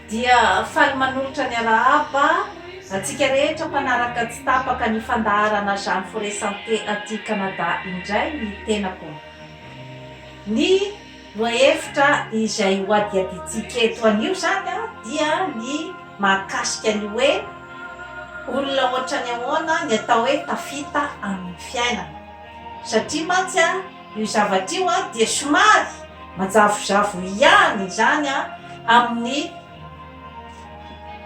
dia faly manolotra ny arahaba antsika rehetra mpanaraka tsy tapaka ny fandaharana Jeanne Forêt Santé aty Canada indray ny tenako. Ny lohahevitra izay hohadihadiantsika eto anio izany dia ny mahakasika ny hoe olona ohatran'ny ahoana ny atao hoe tafita amin'ny fiainana. Satria mantsy an, io zavatra io an dia somary manjavozavo ihany izany an amin'ny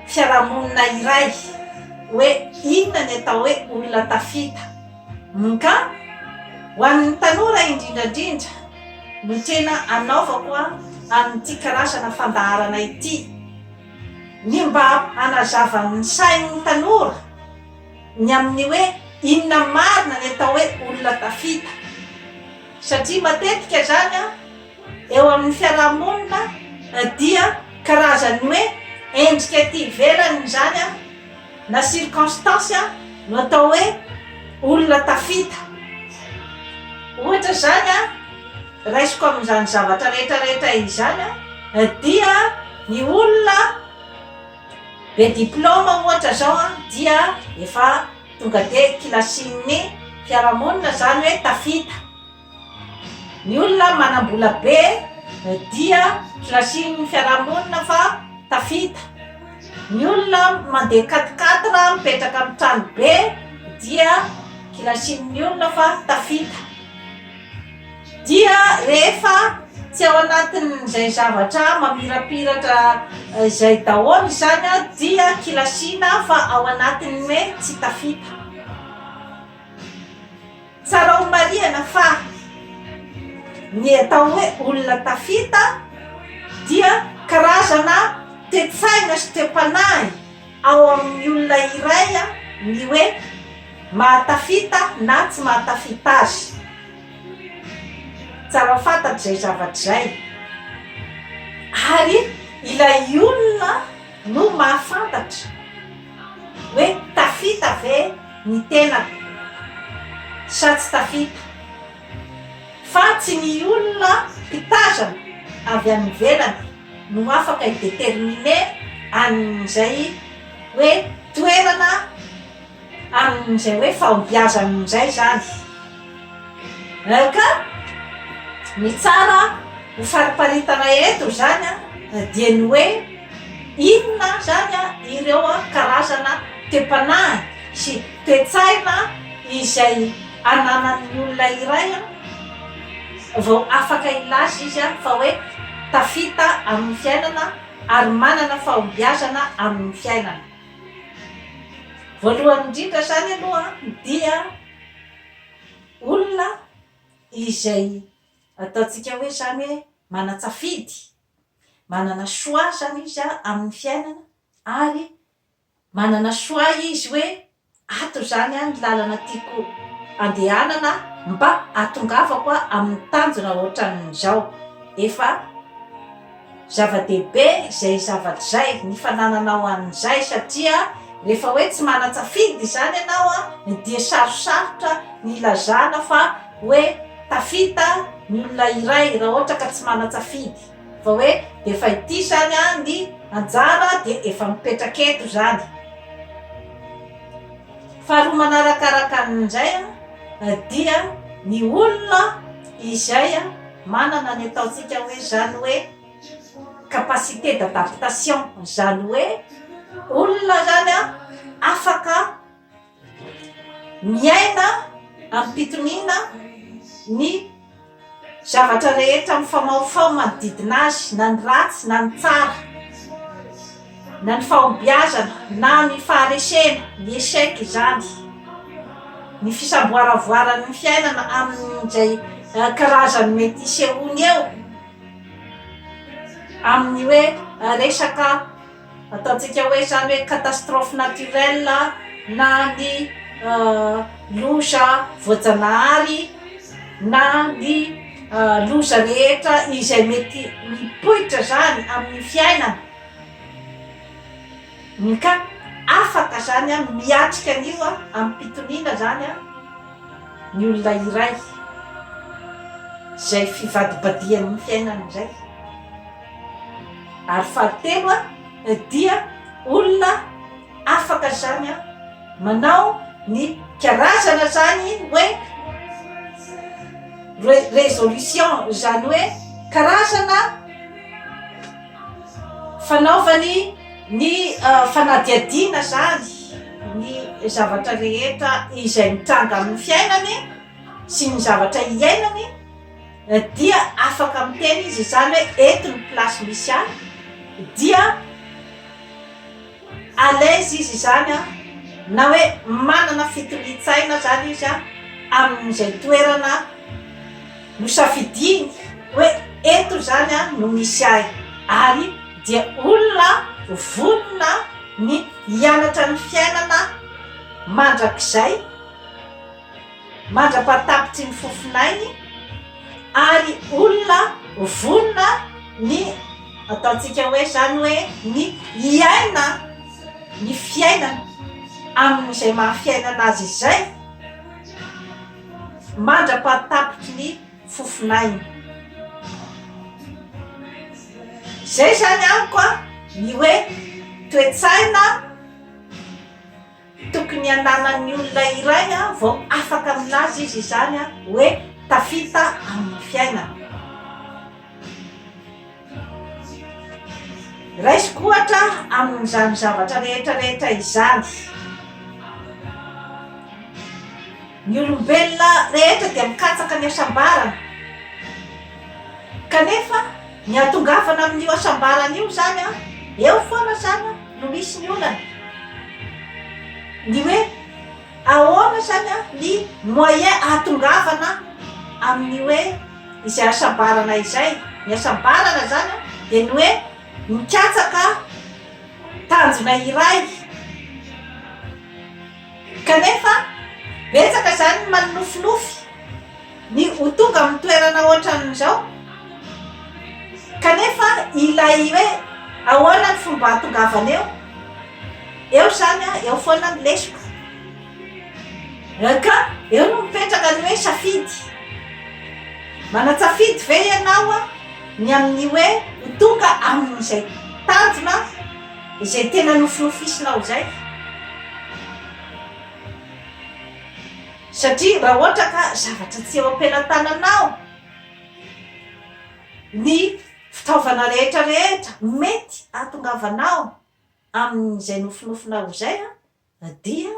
fiarahamonina iray hoe inona ny atao hoe olona tafita. MK, ho an'ny tanora indrindra indrindra no tena anaovako an an'ity karazana fandaharana ity, ny mba hanazava ny sain'ny tanora. ny amin'ny hoe inona marina ny atao hoe olona tafita satria matetika izany an eo amin'ny fiarahamonina dia karazan'ny hoe endrika ety ivelany izany an na circonstance an no atao hoe olona tafita ohatra izany an raisiko amin'izany zavatra rehetra rehetra izany an dia ny olona be diplaoma ohatra zao an dia efa tonga de kilasin'ny fiarahamonina zany hoe tafita ny olona manambola be dia kilasin'ny fiarahamonina fa tafita ny olona mandeha quatre quatre mipetraka amin'ny trano be dia kilasin'ny olona fa tafita Dia rehefa tsy ao anatin'izay zavatra mamirapiratra izay daholo izany aho dia kilasiana fa ao anatin'ny hoe tsy tafita. Tsara homarihana fa ny atao hoe olona tafita dia karazana toe-tsaina sy toe-panahy. Ao amin'ny olona iray ny hoe mahatafita na tsy mahatafita azy. Tsara fantatra izay zavatra izay. Ary ilay olona no mahafantatra hoe tafita ve ny tenako sa tsy tafita. Fa tsy ny olona mpitazana avy any ivelany. no afaka hi-determiner an'izay hoe toerana amin'izay hoe fahombiazany indray izany. Ka ny tsara ho fariparitana eto izany dia ny hoe inona izany ireo karazana toe-panahy sy toe-tsaina izay ananan'ny olona iray vao afaka hilaza izy fa hoe tafita amin'ny fiainana ary manana fahombiazana amin'ny fiainana. Voalohany indrindra izany aloha dia olona izay ataontsika hoe izany hoe manan-tsafidy, manana choix izany izy amin'ny fiainana ary Manana choix izy hoe ato izany ny lalana tiako andehanana mba hatongavako amin'ny tanjona ohatran'izao. Efa zava-dehibe izay zavatra izay, ny fanananao an'izay satria rehefa hoe tsy manan-tsafidy izany ianao dia sarosarotra ny hilazana fa hoe tafita ny olona iray raha ohatra ka tsy manan-tsafidy. Fa hoe dia efa ity izany ny anjara dia efa mipetraka eto izany. Faharoa manarakaraka an'izay dia ny olona izay manana ny ataontsika hoe izany hoe capacité d'adaptation izany hoe olona izany afaka Miaina amim-pitoniana ny zavatra rehetra mifamahofaho manodidina azy, na ny ratsy na ny tsara, na ny fahombiazana na ny faharesena, ny échec izany, ny fisamboaravoaran'ny fiainana amin'izay karazany mety hisehoany eo amin'ny hoe resaka Ataontsika hoe izany hoe catastrophe naturelle na ny loza voajanahary na ny loza rehetra izay mety mipoitra izany amin'ny fiainana ka afaka izany miatrika an'io amim-pitoniana izany ny olona iray izay fivadibadihan'ny fiainana izay. Ary fahatelo dia olona afaka zany manao ny karazana zany hoe résolution zany hoe karazana fanaovany ny fanadihadiana zany ny zavatra rehetra izay mitranga amin'ny fiainany sy ny zavatra iainany Na dia afaka miteny izy izany hoe eto ny place misy ahy dia à l'aise izy izany an, na hoe manana fitonian-tsaina izany izy an amin'izay toerana nosafidiany hoe eto izany an no misy ahy, ary dia olona vonona ny hianatra ny fiainana mandrakizay. mandra-pahatapitry ny fofon'ainy ary olona vonona ny ataontsika hoe izany hoe ny hiaina ny fiainana amin'izay maha fiainana azy izay mandra-pahatapitry ny fofon'ainy. Izay izany amiko ny hoe toe-tsaina. Tokony hananan'ny olona iray vao afaka milaza izy izany hoe tafita amin'ny fiainana. Raisiko ohatra amin'izany zavatra rehetra rehetra izany. Ny olombelona rehetra dia mikatsaka ny hasambarana, kanefa ny hahatongavana amin'io hasambarana io izany an, eo foana izany no misy ny olana, ny hoe ahoana izany an, ny moyen hahatongavana amin'ny hoe izay hasambarana izay, ny hasambarana izany an dia ny hoe mikatsaka tanjona iray. Kanefa, betsaka izany ny manonofinofy ny ho tonga amin'ny toerana ohatran'izao. Kanefa ilay hoe ahoana ny fomba hahatongavana eo, eo izany an, eo foana ny lesoka. Ka eo no mipetraka ny hoe safidy. Manan-tsafidy ve ianao ny amin'ny hoe ho tonga amin'izay tanjona? Izay tena nofinofisinao izay. Satria raha ohatra ka zavatra tsy eo am-pelantananao ny fitaovana rehetra rehetra mety ahatongavanao amin'izay nofinofinao izay dia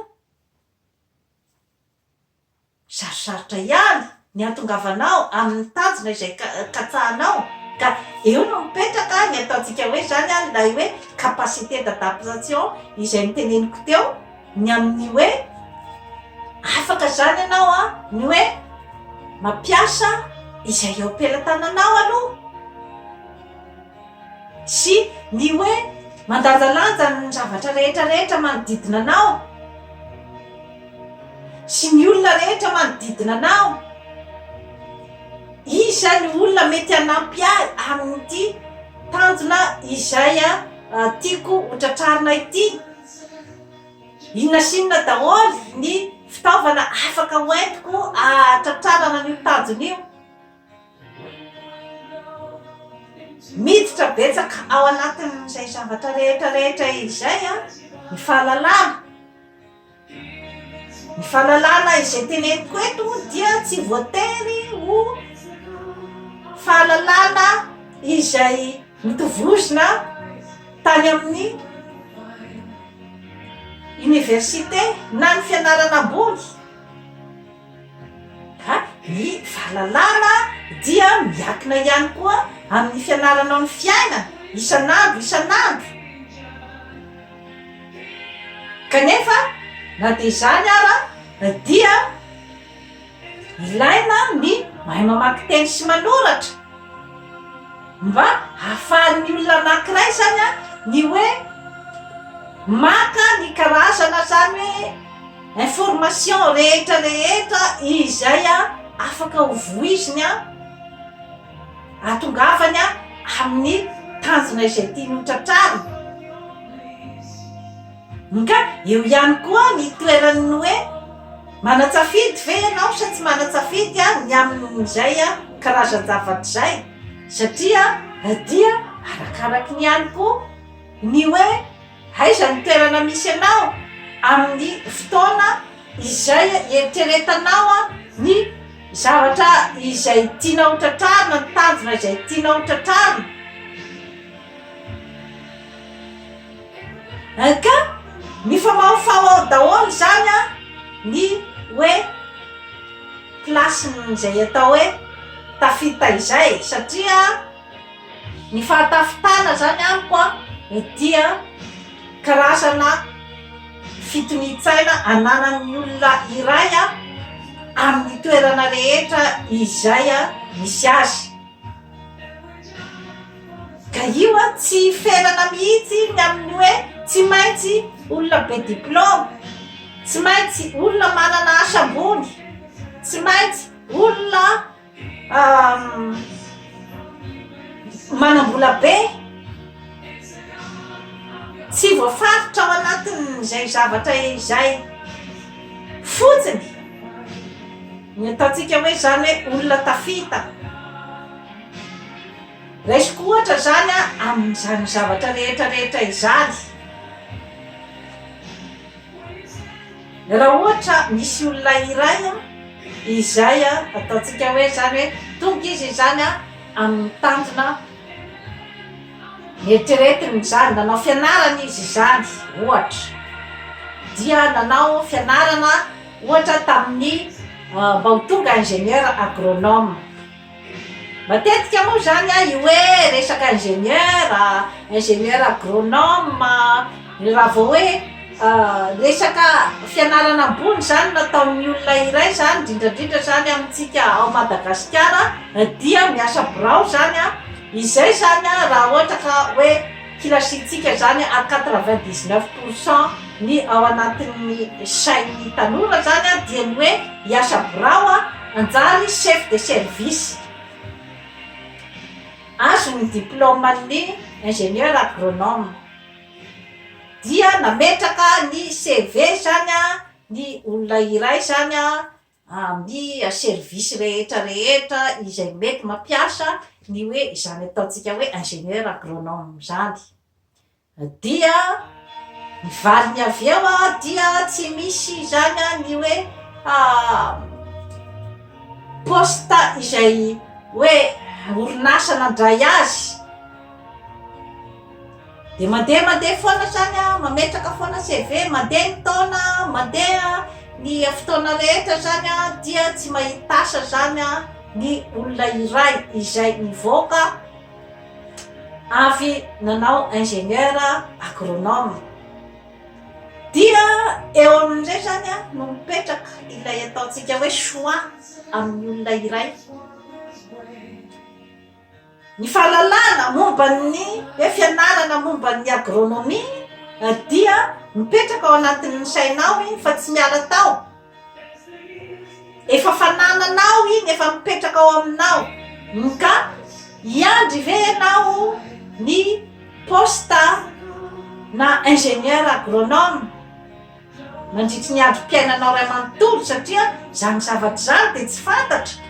Sarosarotra ihany ny hahatongavanao amin'ny tanjona izay katsahanao ka eo no mipetraka ny ataontsika hoe izany ary ilay hoe capacité d'adaptation izay noteneniko teo ny amin'ny hoe afaka izany ianao an ny hoe mampiasa izay eo am-pelatananao aloha. Sy ny hoe mandanjalanja ny zavatra rehetra rehetra manodidina anao sy ny olona rehetra manodidina anao. Iza ny olona mety hanampy ahy amin'ity tanjona izay tiako ho tratrarina ity? Inona sy inona daholo ny fitaovana afaka hoentiko hahatratrarana an'io tanjona io? Miditra betsaka ao anatin'izay zavatra rehetra rehetra izay an ny fahalalana, ny fahalalana izay teneniko eto moa dia tsy voatery ho fahalalana izay notovozina tany amin'ny oniversite na ny fianarana ambony. Fa ny fahalalana dia miankina ihany koa amin'ny fianaranao ny fiainana isan'andro isan'andro. Kanefa na dia izany ara dia ilaina ny mahay mamaky teny sy manoratra mba hahafahan'ny olona anankiray izany ny hoe maka ny karazana izany hoe Information rehetra rehetra izay afaka ho vohiziny atongavany amin'ny tanjona izay tiany ho tratrarina. Nka eo ihany koa ny toeran'ny hoe manatsafidy ve ianao sa tsy manatsafidy ny amin'izay karazan-javatra izay satria dia arakaraky ny ihany koa ny hoe Aiza ny toerana misy anao amin'ny fotoana izay ieritreretanao ny zavatra izay tianao ho tratrarina, ny tanjona izay tianao ho tratrarina? NK, Mifamahofaho ao daholo izany an, ny hoe place-n'ny izay atao hoe tafita izay satria. Ny fahatafitana izany amiko an, dia karazana fitonian-tsaina ananan'ny olona iray an, amin'ny toerana rehetra izay misy azy. Ka io an, tsy hiferana mihitsy ny amin'ny hoe tsy maintsy olona be diplaoma, tsy maintsy olona manana asa ambony, tsy maintsy olona. manam-bola be tsy voafaritra ao anatin'izay zavatra izay fotsiny ny ataontsika hoe izany hoe olona tafita raisiko ohatra izany a amin'izany zavatra rehetra rehetra izany Raha ohatra misy olona iray izay ataontsika hoe izany hoe tonga izy izany amin'ny tanjona eritreretiny izany, nanao fianarana izy izany ohatra, dia nanao fianarana ohatra tamin'ny mba ho tonga ingénieur agronome. Matetika moa izany an, io hoe resaka ingénieur, ingénieur agronome, raha vao hoe resaka fianarana ambony izany no ataon'ny olona iray izany, indrindra indrindra izany amintsika ao Madagasikara, dia miasa birao izany an, izay izany an raha ohatra ka hoe kilasiantsika izany à quatre vingt dix neuf pour cent ny ao anatin'ny sain'ny tanora izany dia ny hoe hiasa birao an. Nanjary chef de service. Azony ny diplaoman'ny ingénieur agronome. Dia nametraka ny CV izany ny olona iray izany amin'ny service rehetra rehetra izay mety mampiasa ny hoe izany ataontsika hoe ingénieur agronome izany. Dia ny valiny avy eo dia tsy misy izany ny hoe poste izay hoe orinasa nandray azy, dia mandeha mandeha foana izany an, mametraka foana CV, mandeha ny taona, mandeha ny fotoana rehetra izany an, dia tsy mahita asa izany an ny olona iray izay mivoaka. avy nanao ingénieur agronome. Dia eo amin'izay izany no mipetraka ilay ataontsika hoe choix amin'ny olona iray. Ny fahalalana momba ny hoe fianarana momba ny agronomie dia mipetraka ao anatin'ny sainao iny fa tsy miala tao. Efa fanananao iny, efa mipetraka ao aminao. Ka hiandry ve ianao ny poste na ingénieur agronome mandritry ny androm-piainanao iray manontolo satria izany zavatra izany dia tsy fantatra,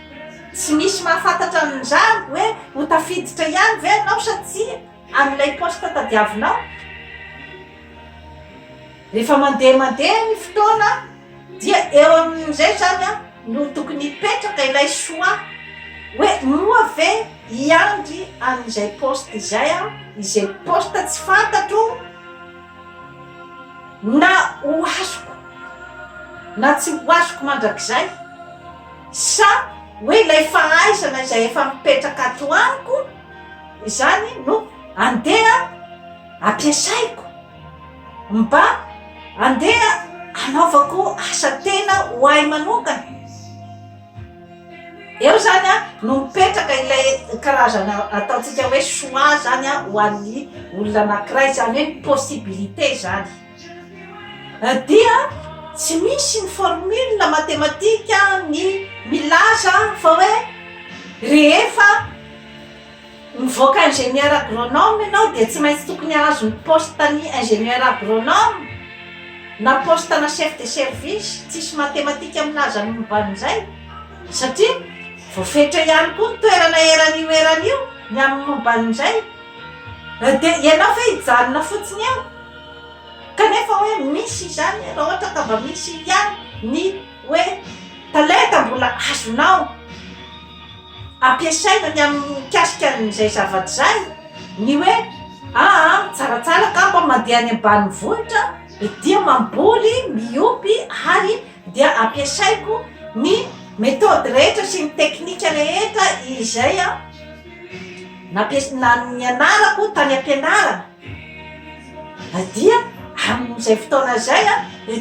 tsy misy mahafantatra an'izany hoe ho tafiditra ihany ve ianao sa tsia. Ary ilay poste tadiavinao? Rehefa mandeha mandeha ny fotoana dia eo amin'izay izany an, no tokony hipetraka ilay choix hoe moa ve hiandry an'izay poste izay aho, izay poste tsy fantatro na ho azoko na tsy ho azoko mandrakizay sa hoe ilay fahaizana izay efa mipetraka ato amiko, Izany no andeha ampiasaiko mba andeha hanaovako asa tena ho ahy manokana. Eo zany a no mipetraka ilay karazana ataontsika hoe choix zany a ho an'ny olona anankiray zany hoe possibilité zany. Dia tsy misy ny formule matematika ny milaza fa hoe rehefa mivoaka ingénieur agronome ianao dia tsy maintsy tokony hahazo ny poste ny ingénieur agronome na poste ana chef de service, tsisy matematika milaza ny momba an'izay satria voafetra ihany koa ny toerana eran'io eran'io ny amin'ny momba an'izay dia ianao ve hijanona fotsiny eo? kanefa hoe misy izany raha ohatra ka mba misy ihany ny hoe talenta mbola azonao ampiasaina ny amin'ny mikasika an'izay zavatra izay ny hoe aa tsaratsara ka mba mandeha any ambanivohitra dia mamboly miopy ary dia ampiasaiko ny methode rehetra sy ny teknika rehetra izay a nampias- na- nianarako tany am-pianarana Dia amin'izay fotoana izay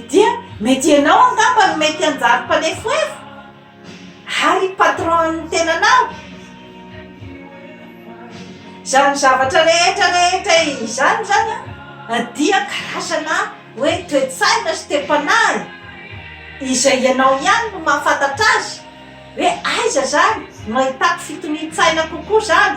dia mety ianao angamba no mety hanjary mpanefoefo ary patron ny tenanao izany zavatra rehetra rehetra izany zany a dia karazana hoe toe-tsaina sy toe-panahy izay ianao ihany no mahafantatra azy hoe aiza zany no ahitako fitonian-tsaina kokoa zany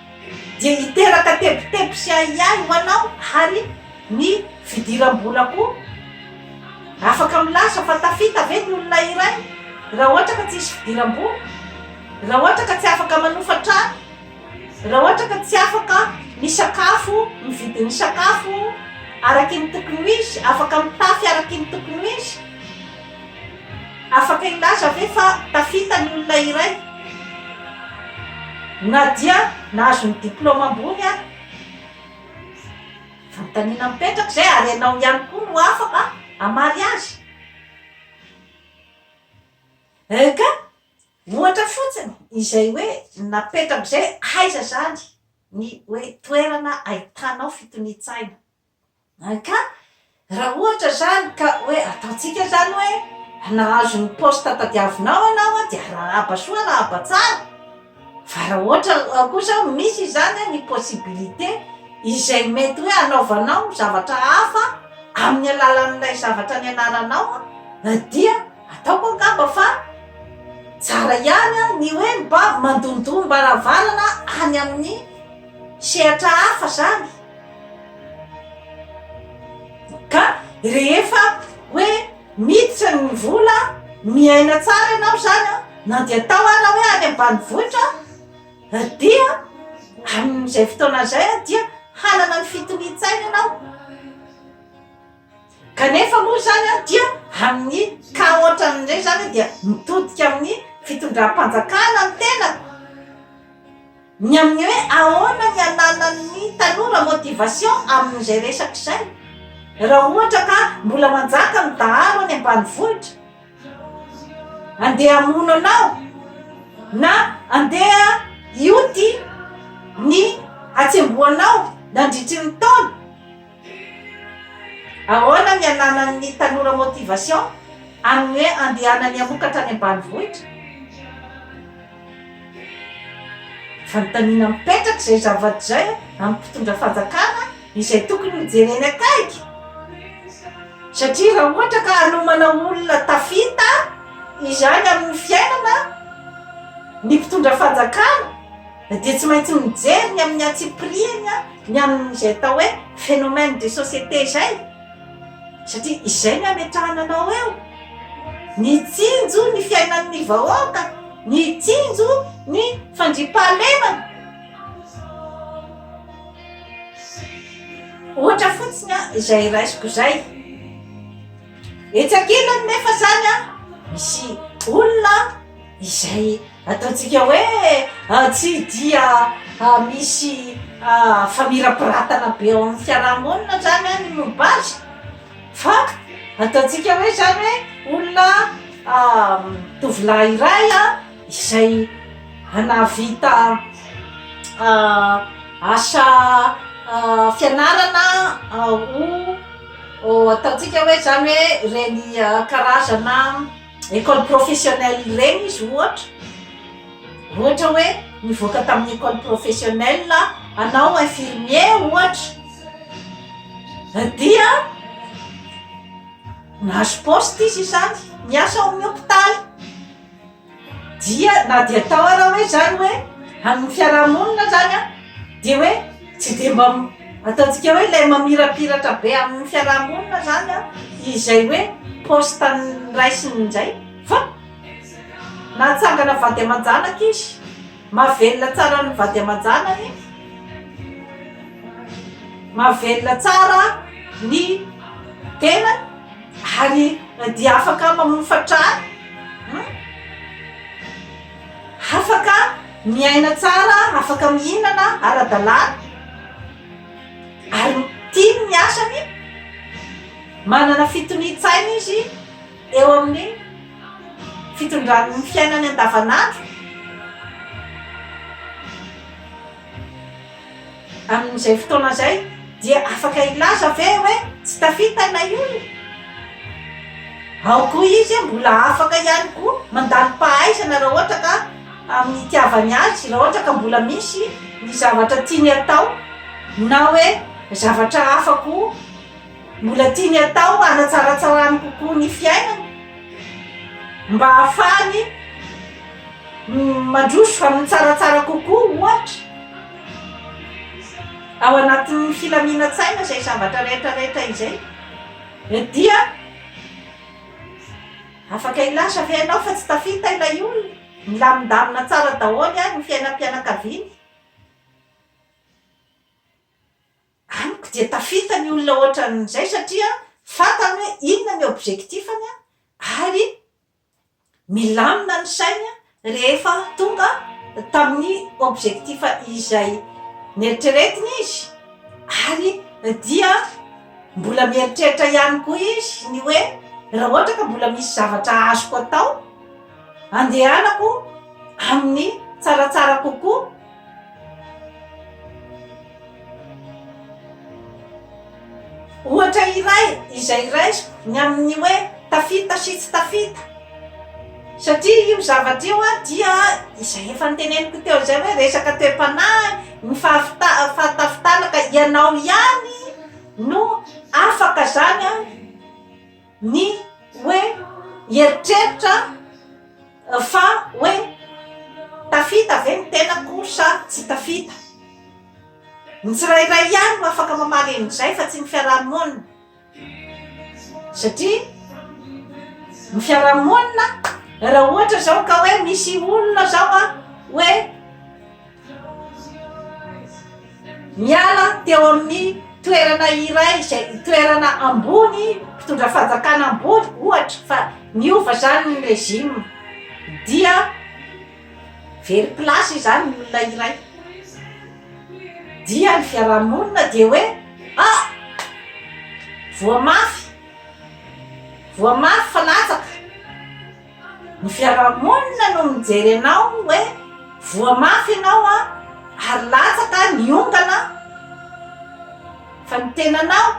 dia hiteraka tebiteby sy ahiahy ho anao ary ny fidiram-bola koa. Afaka milaza fa tafita ve ny olona iray raha ohatra ka tsy hisy fidiram-bola, raha ohatra ka tsy afaka manofa trano, raha ohatra ka tsy afaka misakafo, mividy ny sakafo araky ny tokony ho izy, afaka mitafy araky ny tokony ho izy? Afaka hilaza ve fa tafita ny olona iray, na dia nahazo ny diplaoma ambony ary? Fanontaniana mipetraka izay, ary ianao ihany koa no afaka hamaly azy. EK, Ohatra fotsiny izay hoe napetrako izay, aiza izany ny hoe toerana ahitanao fitonian-tsaina? Ka raha ohatra izany ka hoe ataontsika izany hoe nahazo ny poste tadiavinao ianao an, dia arahaba soa arahaba tsara, fa raha ohatra ao kosa misy izany an ny possibilité izay mety hoe hanaovanao zavatra hafa amin'ny alalan'ilay zavatra nianaranao an, dia ataoko angamba fa tsara ihany an ny hoe mba mandondom-baravarana any amin'ny sehatra hafa izany. Ka rehefa hoe miditra ny vola miaina tsara ianao izany an, na dia atao ary hoe any ambanivohitra an, dia amin'izay fotoana izay dia hanana ny fitonian-tsaina ianao. Kanefa moa izany dia amin'ny cas ohatran'ireny izany dia mitodika amin'ny fitondram-panjakana ny tena, ny amin'ny hoe ahoana ny ananan'ny tanora motivation amin'izay resaka izay, raha ohatra ka mbola manjaka ny dahalo any ambanivohitra andeha hamono anao na andeha hioty ny hatsembohanao nandritry ny taona. Ahoana ny ananan'ny tanora motivation amin'ny hoe andehanany hamokatra any ambanivohitra? Fanontaniana mipetraka izay zavatra izay amin'ny mpitondra fanjakana izay tokony ho jereny akaiky satria raha ohatra ka hanomana olona tafita izany amin'ny fiainana ny mpitondra fanjakana dia tsy maintsy mijery ny amin'ny antsipiriany ny amin'izay atao hoe phénomène de société izay satria izay ny ametrahana anao eo nitsinjo ny fiainan'ny vahoaka nitsinjo ny fandriam-pahalemana ohatra fotsiny a izay raisiko izay etsy ankilany nefa izany a misy olona izay Ataontsika hoe tsy dia misy famirapiratana be ao amin'ny fiarahamonina zany ny momba azy fa ataontsika hoe zany hoe olona tovolahy iray izay nahavita asa fianarana ho ataontsika hoe zany hoe reny karazana. école professionnelle ireny izy ohatra ohatra hoe nivoaka tamin'ny école professionnelle hanao infirmier ohatra dia nahazo poste izy izany niasa ao amin'ny hôpitaly dia na dia atao ary hoe izany hoe amin'ny fiarahamonina izany an dia hoe Tsy dia mba ataontsika hoe ilay mamirapiratra be amin'ny fiaraha-monina izany an, izay hoe poste an'ny raisiny indray fa nahatsangana vady aman-janaka izy, mahavelona tsara ny vady aman-janany, mahavelona tsara ny tenany ary dia afaka mamofa trano. Afaka miaina tsara, afaka mihinana ara-dalàna ary tiany ny asany, manana fitonian-tsaina izy eo amin'ny fitondrany ny fiainany andavanandro. Amin'izay fotoana izay dia afaka hilaza ve hoe tsy tafita ilay olona? Ao koa izy mbola afaka ihany koa mandalo pahaizana raha ohatra ka amin'ny hitiavany azy, raha ohatra ka mbola misy ny zavatra tiany hatao na hoe zavatra hafa koa mbola tiany hatao hanatsaratsarany kokoa ny fiainany mba hahafahany mandroso fa mitsaratsara kokoa ohatra. Ao anatin'ny filaminan-tsaina izay zavatra rehetra rehetra izay dia afaka hilaza ve ianao fa tsy tafita ilay olona? Milamindamina tsara daholo ary ny fiainam-pianakaviany? Amiko dia tafita ny olona ohatran'izay satria fantany hoe inona ny objectif-ny ary Milamina ny sainy rehefa tonga tamin'ny objectif izay neritreretiny izy ary dia mbola mieritreritra ihany koa izy ny hoe raha ohatra ka mbola misy zavatra azoko atao andehanako amin'ny tsaratsara kokoa Ohatra iray izay raisiko ny amin'ny hoe tafita sy tsy tafita satria io zavatra io dia izay efa noteneniko teo izay hoe resaka toe-panahy ny fahafita- fahatafitalaka ianao ihany no afaka izany ny hoe hieritreritra fa hoe tafita ve ny tenako sa tsy tafita. Ny tsirairay ihany no afaka mamaly an'izay fa tsy ny fiaraha-monina. Satria ny fiaraha-monina raha ohatra izao ka hoe misy olona izao a hoe. Niala teo amin'ny toerana iray izay toerana ambony mpitondra fanjakana ambony ohatra fa niova izany ny régime dia very place izany ny olona iray dia ny fiaraha-monina dia hoe ah! voa mafy voa mafy fa latsaka. Ny fiarahamonina no mijery anao hoe voa mafy ianao ary latsaka ny ondana fa ny tenanao,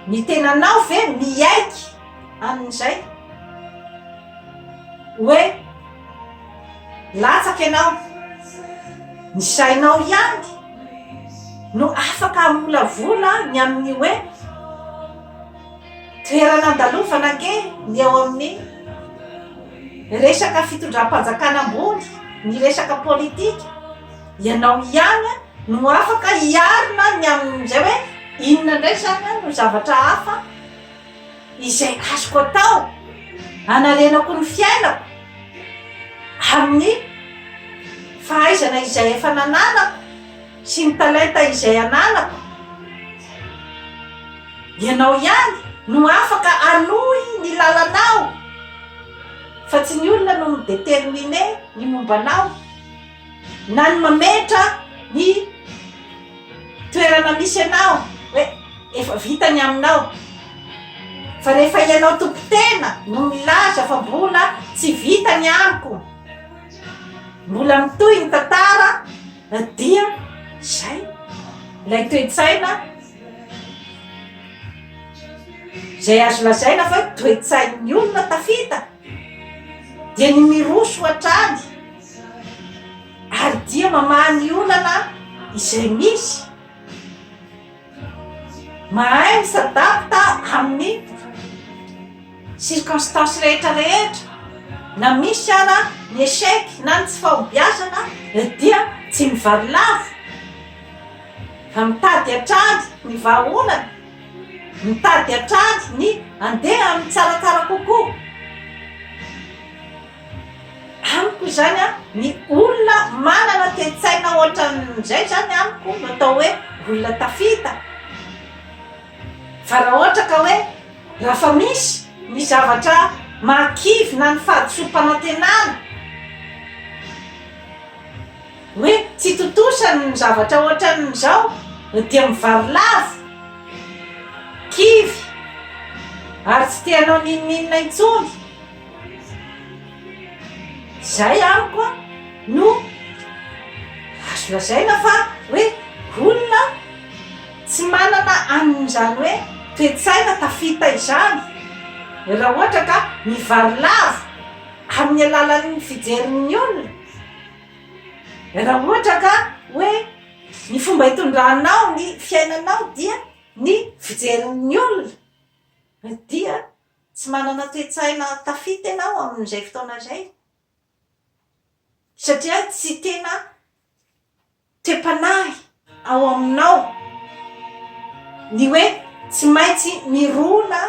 ny tenanao ve miaiky amin'izay hoe latsaka ianao? Ny sainao ihany no afaka hamolavola ny amin'ny hoe. Toerana andalovana ange ny eo amin'ny resaka fitondram-panjakana ambony, ny resaka politika. Ianao ihany no afaka hiarina ny amin'izay hoe inona indray izany no zavatra hafa izay azoko atao hanarenako ny fiainako amin'ny fahaizana izay efa nananako. Sy ny talenta izay ananako. Ianao ihany no afaka hanohy ny lalanao fa tsy ny olona no mi determiner ny momba anao na ny mametra ny toerana misy anao hoe efa vita ny aminao fa rehefa ianao tompo tena no milaza fa mbola tsy vita ny amiko mbola mitohy ny tantara Na dia izay, ilay toe-tsaina izay azo lazaina fa hoe toe-tsain'ny olona tafita dia ny miroso hatrany ary dia mamaha ny olana izay misy. Mahay mi s'adapte amin'ny circonstances rehetra rehetra na misy ara ny echec na ny tsy fahombiazana dia tsy mivaro lava fa mitady hatrany ny vahaolana mitady hatrany ny andeha amin'ny tsaratsara kokoa Amiko izany an, ny olona manana toe-tsaina ohatran'izay izany amiko no atao hoe olona tafita. Fa raha ohatra ka hoe raha fa misy ny zavatra mahakivy na ny fahadisoam-panantenana, hoe tsy tontosa ny zavatra ohatran'izao dia mivarilavo, kivy ary tsy te hanao n'inon'inona intsony. Zay amiko a no azo lazaina fa hoe olona tsy manana an'izany hoe toe-tsaina tafita izany raha ohatra ka mivarilavo amin'ny alalan'ny fijerin'ny olona, raha ohatra ka hoe ny fomba itondranao ny fiainanao dia ny fijerin'ny olona dia. Tsy manana toe-tsaina tafita ianao amin'izay fotoana izay, satria tsy tena toe-panahy ao aminao ny hoe tsy maintsy mirona,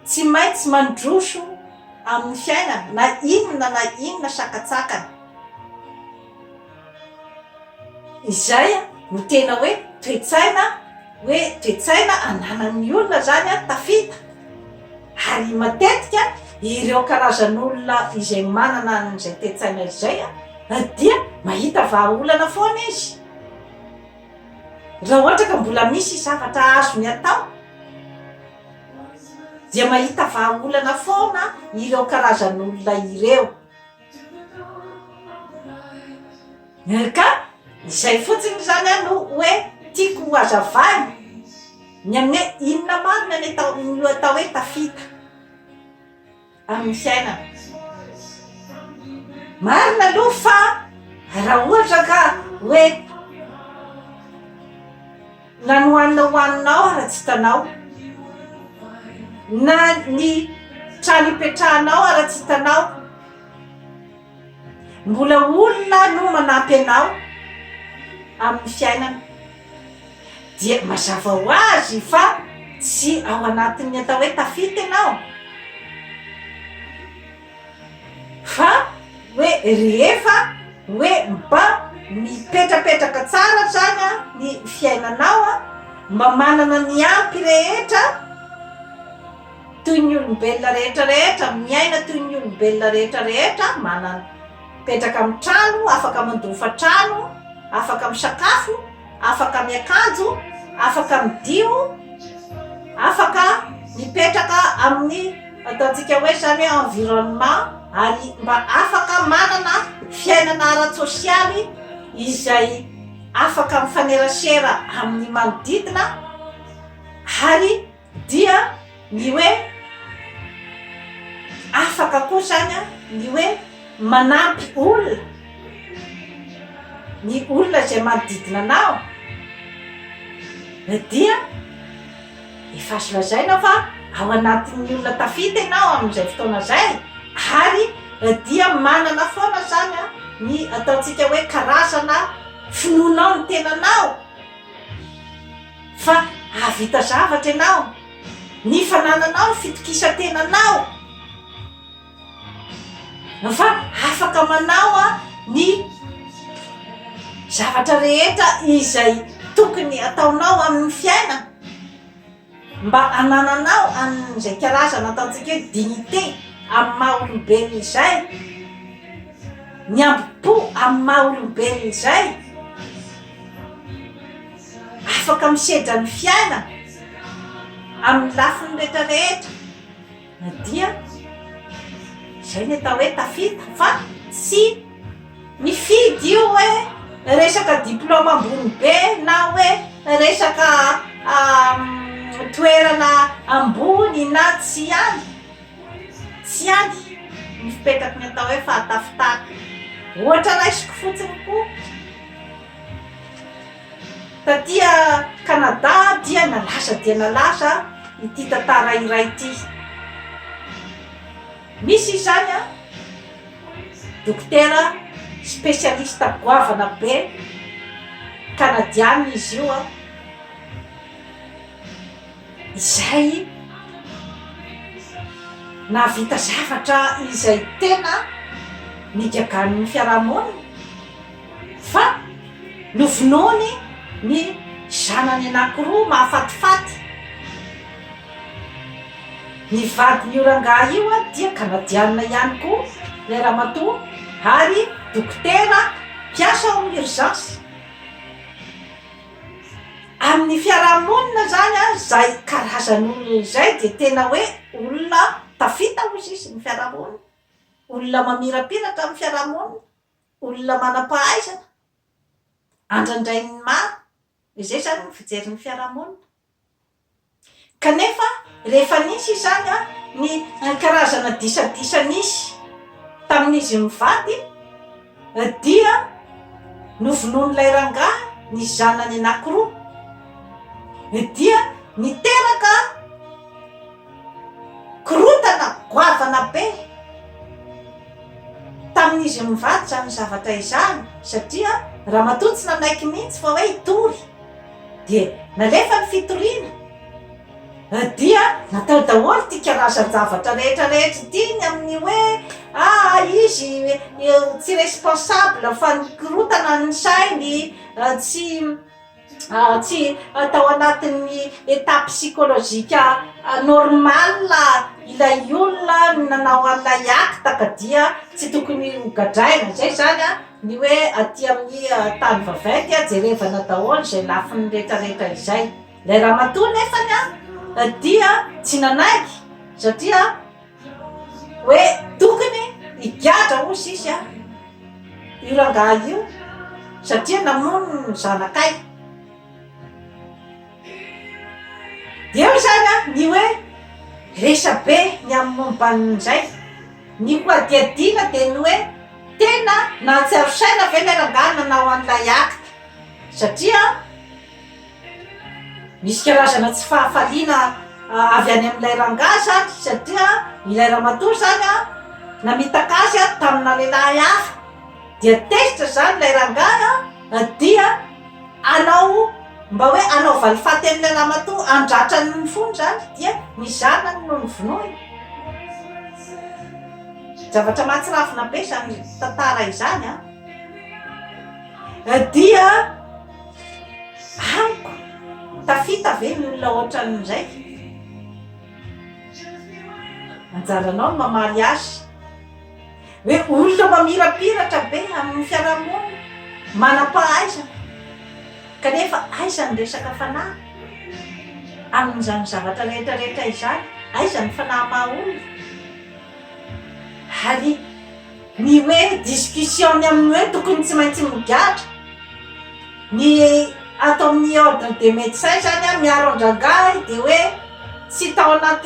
tsy maintsy mandroso amin'ny fiainana na inona na inona sakantsakana. Izay no tena hoe toe-tsaina hoe toe-tsaina ananan'ny olona zany tafita ary matetika ireo karazan'olona izay manana an'izay toe-tsaina izay dia mahita vahaolana foana izy raha ohatra ka mbola misy zavatra azony atao dia mahita vahaolana foana ireo karazan'olona ireo. RK, Izay fotsiny izany aho no hoe tiako ho hazavaina ny amin'ny hoe inona marina ny atao no atao hoe tafita amin'ny fiainana. Marina aloha fa raha ohatra ka hoe. Na ny hohanina hohaninao ary tsy hitanao, na ny trano hipetrahanao ary tsy hitanao, mbola olona no manampy anao amin'ny fiainana dia mazava ho azy fa tsy ao anatin'ny atao hoe tafita ianao. Fa hoe rehefa hoe mba mipetrapetraka tsara hatrany ny fiainanao, mba manana ny ampy rehetra toy ny olombelona rehetra rehetra, miaina toy ny olombelona rehetra rehetra, manana, mipetraka amin'ny trano, afaka mandoa hofan-trano, afaka misakafo, afaka miakanjo, afaka midio, afaka mipetraka amin'ny ataontsika hoe izany hoe environnement ary mba afaka manana fiainana ara-tsosialy izay afaka mifanerasera amin'ny manodidina ary Dia ny hoe afaka koa izany ny hoe manampy olona, ny olona izay manodidina anao dia efa azo lazaina fa ao anatin'ny olona tafita ianao amin'izay fotoana izay ary dia manana foana izany ny ataontsika hoe karazana finoanao ny tenanao. Fa hahavita zavatra ianao, ny fanananao ny fitokisan-tenanao, fa afaka manao ny zavatra rehetra izay tokony hataonao amin'ny fiainana. Mba hanananao an izay karazana ataontsika hoe dignité amin'ny maha olombelona izay, ny hambom-po amin'ny maha olombelona izay, afaka misedra ny fiainana amin'ny lafiny rehetra rehetra. Na dia izay ny atao hoe tafita fa tsy mifidy io hoe resaka diplaoma ambony be na hoe resaka toerana ambony na tsia any, tsy any ny fipetraky ny atao hoe fahatafitana. Ohatra raisiko fotsiny koa. Taty Kanada dia nalaza dia nalaza ity tantara iray ity. Misy izany an, dokotera spesialista goavana be, kanadianina izy io an, izay nahavita zavatra izay tena nigagan'ny fiaraha-monina. Fa novonoiny ny zanany anankiroa mahafatifaty. Ny vadin'io rangahy io dia Kanadianina ihany koa ilay ramatoa ary dokotera mpiasa ao amin'ny urgence. Amin'ny fiaraha-monina izany izay karazan'olona izay dia tena hoe olona tafita hoy izy ny fiaraha-monina, olona mamirapiratra amin'ny fiaraha-monina. olona manam-pahaizana andrandrain'ny maro, izay izany ny fijerin'ny fiarahamonina. Kanefa rehefa nisy izany ny karazana disadisa nisy tamin'izy mivady dia novonoin'ilay rangahy ny zanany anankiroa dia niteraka Korontana goavana be tamin'izy mivady izany zavatra izany satria ramatoa tsy nanaiky mihitsy fa hoe hitory dia nalefa ny fitoriana dia natao daholo ity karazan-javatra rehetra rehetra ity ny amin'ny hoe aa izy tsy responsable fa nikorontana ny sainy tsy tsy atao anatin'ny état psychologique normal ilay olona nanao an'ilay acte ka dia tsy tokony ho gadraina izay zany a ny hoe aty amin'ny tany vaventy a jerevana daholo izay lafiny retraretra izay ilay ramatoa nefany a dia tsy nanaiky satria Hoe tokony higadra hoy Zisy an! io rangahy io satria namono ny zanakay. Dia eo izany an, ny hoe resabe ny amin'ny momba an'izay. Ny hohadihadiana dia ny hoe tena nahatsiaro saina ve ilay rangahy nanao an'ilay acte satria. Misy karazana tsy fahafaliana avy any amin'ilay rangahy izany satria ilay ramatoa izany an, namitaka azy an tamina lehilahy hafa, dia tezitra izany ilay rangahy an, dia hanao mba hoe hanao valifaty an'ilay ramatoa, handratra ny fony izany, dia ny zanany no novonoiny, zavatra mahatsiravina be izany tantara izany an, dia. Amiko, tafita ve ny olona ohatran'ny indraiky? Anjaranao ny mamaly ahy. Hoe olona mamirapiratra be amin'ny fiarahamonina, manam-pahaizana, kanefa aiza ny resaka fanahy? Amin'izany zavatra rehetrarehetra izany, aiza ny fanahy maha olona? Ary. Ny hoe discussion ny amin'ny hoe tokony tsy maintsy migadra ny ato amin'ny ordre des medecins zany an miaro an-drangahy dia hoe tsy tao anaty